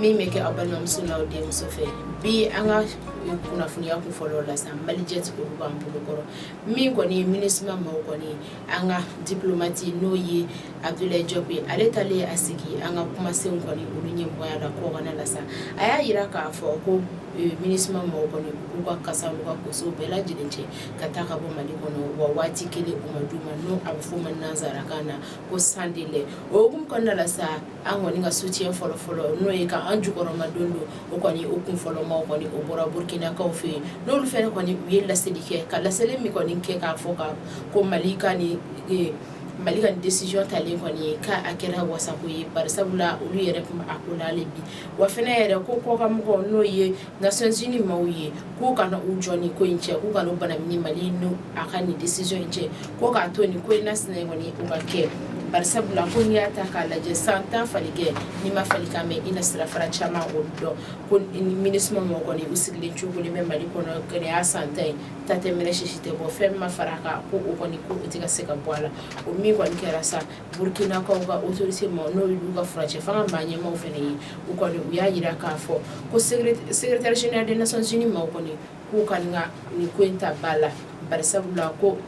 min bɛ kɛ aw balimamuso n'aw denmuso fɛ bi an ka kunnafoniya kun fɔlɔ la sisan malijet b'an bolokɔrɔ min kɔni ye minisuma maaw kɔni ye an ka diplomati n'o ye abudulayi jɔp ye ale talen ye a sigi an ka kumasenw kɔni olu ɲɛmɔgɔya la kɔkana la sisan a y'a jira k'a fɔ ko minisuma maaw kɔni k'u ka kasa u ka kosow bɛɛ lajɛlen cɛ ka taa ka bɔ mali kɔnɔ wa waati kelen ma d'u ma n'o a bɛ f'o ma nansarakan na ko sans délai o hukumu kɔnɔna la sa an kɔni ka sutiyɛn fɔlɔ fɔlɔ n'o ye ka an jukɔrɔmadondon o kɔni o kun fɔlɔma kɔni o bɔra burukinakaw fɛ yen n'olu fana kɔni u ye laseli kɛ ka laseli min kɔni kɛ k'a fɔ ka ko mali ka nin mali ka nin desizɔn talen kɔni ye k'a kɛra wasako ye bari sabula olu yɛrɛkun ma a ko la bi wa fana yɛrɛ ko kɔkanmɔgɔ n'o ye nations unies maaw ye k'u kana u jɔ nin ko in cɛ k'u ka bana ni mali ka nin desizɔn in cɛ ko k'a to nin ko in na sina kɔni u ka kɛ bari sabula ko n'i y'a ta k'a lajɛ san tan faligɛn n'i ma falikan mɛn i na sirafara caman o dɔn ko minisuma mɔgɔ kɔni u sigilen cogo bɛ mali kɔnɔ kɛlen ye san tan ye ta tɛ mɛnɛ sisi tɛ bɔ fɛn ma fara kan ko o kɔni ko u tɛ ka se ka bɔ a la o min kɔni kɛra sa Burukinakaw ka otorite maaw n'o y'u ka furancɛ fanga maa ɲɛmaaw fana ye u kɔni u y'a jira k'a fɔ ko secrétaire général de nations unies maaw kɔni k'u ka nin ko in ta ba la bari sabula ko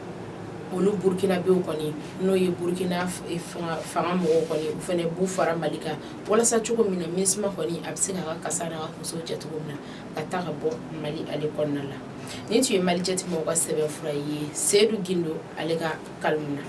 olu burukinabɛ kɔni n'o ye burukina fanga mɔgɔw kɔni u fana b'u fara mali kan walasa cogo min na minisuma kɔni a bɛ se k'a ka kasa n'a koso cɛ cogo min na ka taa ka bɔ mali ale kɔnɔna la nin tun ye malijet mɔgɔw ka sɛbɛnfura ye seyidu gindo ale ka kalimu na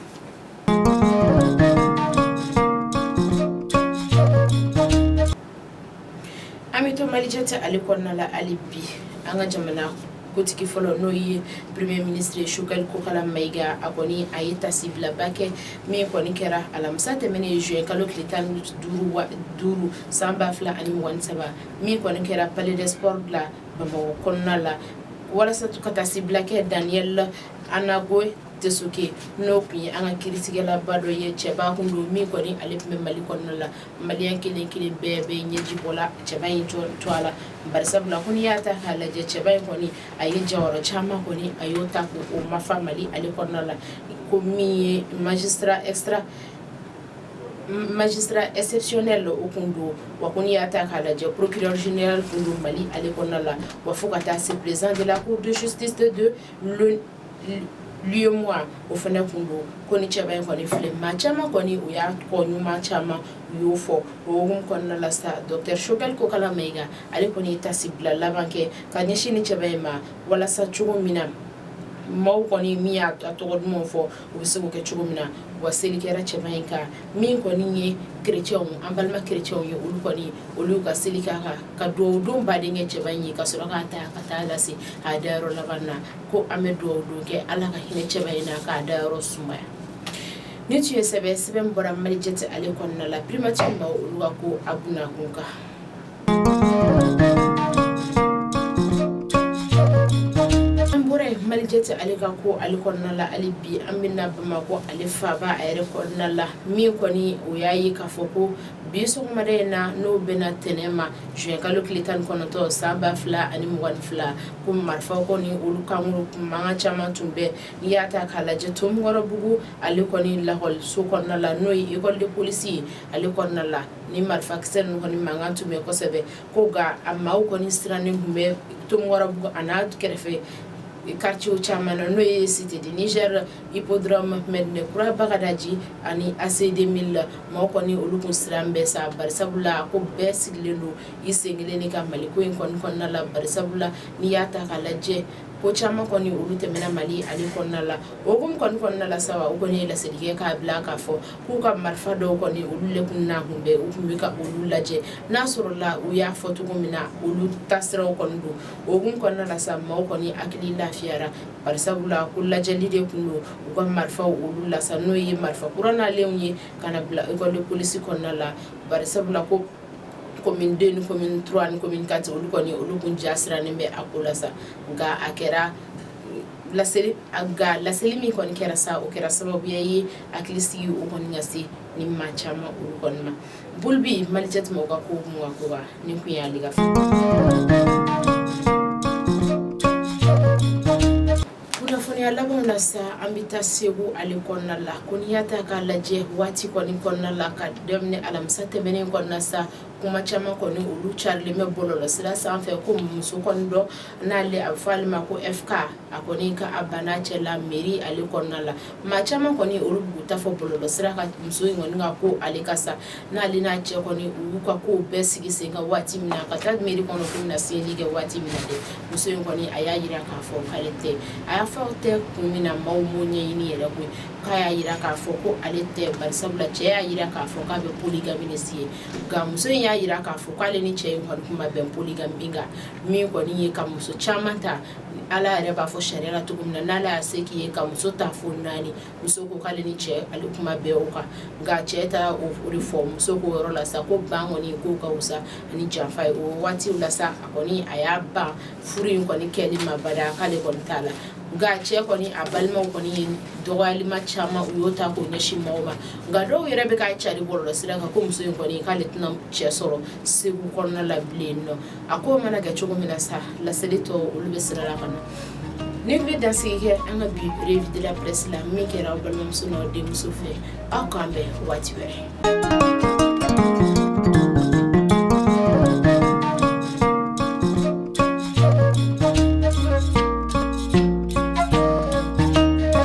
an bɛ to malijet ale kɔnɔna la hali bi an ka jamana kotigi fɔlɔ n'o ye premier ministre shogɛli kokala mayiga a kɔni a ye tasibilaba kɛ min kɔni kɛra alamisa tɛmɛnen juin kalo tile tan ni duuru san ba fila ani mugan ni saba min kɔni kɛra palais des sports la bamakɔ kɔnɔna la walasa ka tasibila kɛ daniel amagoin tessougué n'o tun ye an ka kiiritigɛlaba dɔ ye cɛba tun don min kɔni ale tun bɛ mali kɔnɔ la mali kelen kelen bɛɛ bɛ ɲɛji bɔ la cɛ in jɔ to a la bari sabula ko n'i y'a ta k'a lajɛ cɛba in kɔni a ye jɔyɔrɔ caman kɔni a y'o ta k'o lafa mali ale kɔnɔna la ko min ye magistrat esira magistrat exceptionnel o tun don wa ko n'i y'a ta k'a lajɛ procureur général tun don mali ale kɔnɔna la wa fo ka taa se président de la cour de justice tun don lieu moi o fana tun don ko ni cɛba in kɔni filɛ maa caman kɔni o y'a ko ɲuman caman u y'o fɔ o hukumu kɔnɔna la sa docteur Choguel Kokala Mayiga ale kɔni ye taasibila laban kɛ ka ɲɛsin ni cɛba in ma walasa cogo min na maaw kɔni min y'a tɔgɔ duman fɔ u bɛ se k'o kɛ cogo min na wa seli kɛra cɛba in kan min kɔni ye kerecɛnw an balima kerecɛnw ye olu kɔni olu y'u ka seli k'a kan ka dugawu don ba de kɛ cɛba in ye ka sɔrɔ k'a ta ka taa lase a dayɔrɔ laban na ko an bɛ dugawu don kɛ ala ka hinɛ cɛba in na k'a dayɔrɔ sumaya ni tun ye sɛbɛn sɛbɛn bɔra Malijet ale kɔnɔna la primature maa olu ka ko a kunkan an bɔra yen Malijet ale ka ko ale kɔnɔna la ale bi an bɛ na bamakɔ ale faba a yɛrɛ kɔnɔna la min kɔni o y'a ye k'a fɔ ko bi sɔgɔmada in na n'o bɛnna tɛnɛ ma zuwɛnkalo tile tan ni kɔnɔntɔn san ba fila ani mugan fila ko marifa kɔni olu kankuru mankan caman tun bɛ n'i y'a ta k'a lajɛ Ntomikɔrɔbugu ale kɔni lakɔliso kɔnɔna la n'o ye école de police ye ale kɔnɔna la ni marifakisɛ ninnu kɔni mankan tun bɛ kosɛbɛ ko nka a maaw kɔni sirannen tun bɛ Ntomikɔrɔbugu an'a kɛrɛfɛ quartier caman na n'o ye cité du Niger hippodrome Medina Kura Bagadaji ani ACI 2000 maaw kɔni olu tun sirannen bɛ sa barisabu la ko bɛɛ sigilen don i sen kelen de kan Mali ko in kɔni kɔnɔna la barisabu la n'i y'a ta k'a lajɛ ko caman kɔni olu tɛmɛna Mali ale kɔnɔna la o hukumu kɔni kɔnɔna la sa u kɔni ye laseli kɛ k'a bila k'a fɔ k'u ka marifa dɔw kɔni olu le tun na kun bɛ u tun bɛ ka olu lajɛ n'a sɔrɔla u y'a fɔ cogo min na olu ta siraw kɔni don o hukumu kɔnɔna la sa maaw kɔni hakili lafiyara barisabu la ko lajɛli de tun don u ka marifaw olu la sa n'o ye marifa kura nalenw ye ka na bila école de police kɔnɔna la barisabu la ko commune 2 ni commune 3 ni commune 4 olu kɔni olu tun ja sirannen bɛ a ko la sa nka a kɛra la nka laseli min kɔni kɛra sa o kɛra sababuya ye hakili sigi o kɔni ka se ni maa caman olu kɔni ma bolo bɛ Malijet maaw ka ko koba ni tun y'ale ka Kunnafoniya laban na sa an bɛ taa segu ale kɔnɔna la ko n'i y'a ta k'a lajɛ waati kɔni kɔnɔna la ka daminɛ alamisa tɛmɛnen kɔnɔna sa kuma caman kɔni olu carilen bɛ bɔlɔlɔsira sanfɛ ko muso kɔni dɔ n'ale a bɛ fɔ ale ma ko e a kɔni ka a banna cɛ la mairie ale kɔnɔna la maa caman kɔni olu b'u ta fɔ bɔlɔlɔsira kan muso in ka ko ale kan sa n'ale n'a cɛ kɔni y'u ka ko bɛɛ sigi sen kan waati min na ka taa mɛri kɔnɔ k'u na siwili kɛ waati min dɛ muso in kɔni a y'a jira k'a fɔ k'ale tɛ a y'a fɔ ten kun min na maaw maaw ɲɛɲini yɛrɛ koyi k'a y'a jira k'a fɔ ko ale tɛ barisabula cɛ y'a jira k'a fɔ k'a bɛ poligami siɲɛ nka muso in y'a jira k'a fɔ k'ale ni cɛ in kɔni tun bɛ poligami kan min kɔni ye ka muso caman ta ala yɛrɛ b'a fɔ sariya la cogo min na n'ala y'a se k'i ye ka muso ta fo naani muso ko k'ale ni cɛ ale tun ma bɛn o kan nka cɛ taara o furu fɔ muso ko yɔrɔ la sa ko ban kɔni k'o ka fisa ni janfa ye o waati la sa a kɔni a y'a ban furu in kɔni kɛli ma abada k'ale kɔni t'a la nka cɛ kɔni a balimaw kɔni ye dɔgɔyalima caman u y'o ta k'o ɲɛsin maaw ma nka dɔw yɛrɛ bɛ k'a cari bɔlɔlɔ sira kan ko muso in kɔni k'ale tɛna cɛ sɔrɔ segu kɔnɔna la bilen nɔ a ko mana kɛ cogo min na sa laseli tɔ olu bɛ sira la ka na nin bɛ dansigi kɛ an ka bi revue de la presse la min kɛra aw balimamuso n'aw denmuso fɛ aw k'an bɛn waati wɛrɛ